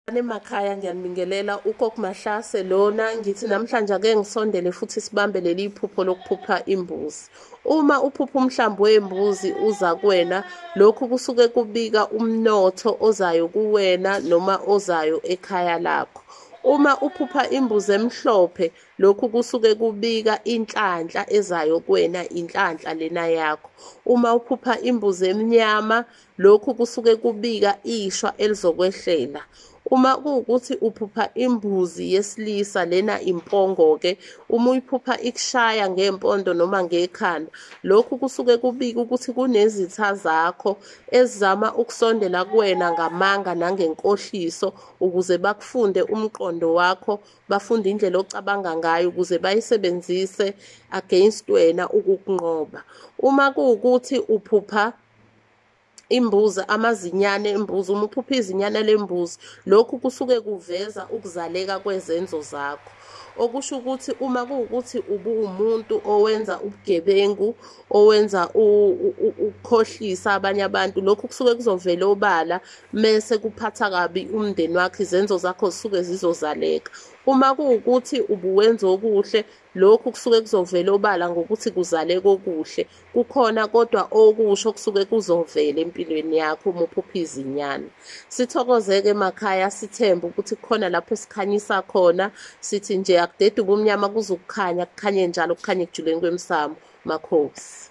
Anemakhaya ngiyanibingelela uKok Mahlase lona ngithi namhlanje ake ngisondele futhi sibambe leli iphupho lokuphupha imbuzi. Uma uphupha umhlambi wembuzi uza kuwena lokhu kusuke kubika umnotho ozayo kuwena noma ozayo ekhaya lakho. Uma uphupha imbuzi emhlophe lokhu kusuke kubika inhlanhla ezayo kuwena inhlanhla lena yakho. Uma uphupha imbuzi emnyama Lokhu kusuke kubika ishwa elizokwehlela. Uma kuwukuthi uphupha imbuzi yesilisa lena impongo-ke, uma uyiphupha ikushaya ngempondo noma ngekhanda, lokhu kusuke kubika ukuthi kunezitha zakho ezizama ukusondela kuwena ngamanga nangenkohliso ukuze bakufunde umqondo wakho, bafunde indlela ocabanga ngayo ukuze bayisebenzise against wena ukukunqoba. Uma kuwukuthi uphupha imbuzi amazinyane embuzi uma uphupha izinyane lembuzi lokhu kusuke kuveza ukuzaleka kwezenzo zakho okusho ukuthi uma kuwukuthi ubuwumuntu owenza ubugebengu owenza ukukhohlisa abanye abantu lokhu kusuke kuzovela obala mese kuphatha kabi umndeni wakho izenzo zakho zisuke zizozaleka uma kuwukuthi ubuwenza okuhle Lokhu kusuke kuzovela obala ngokuthi kuzale kokuhle. Kukhona kodwa okusho kusuke kuzovela empilweni yakho uma uphupha izinyana. Sithokozeke emakhaya sithembe ukuthi kukhona lapho sikhanyisa khona sithi nje akudede ubumnyama kuze ukukhanya kukhanye njalo kukhanye ekujuleni kwemsamo. Makhosi.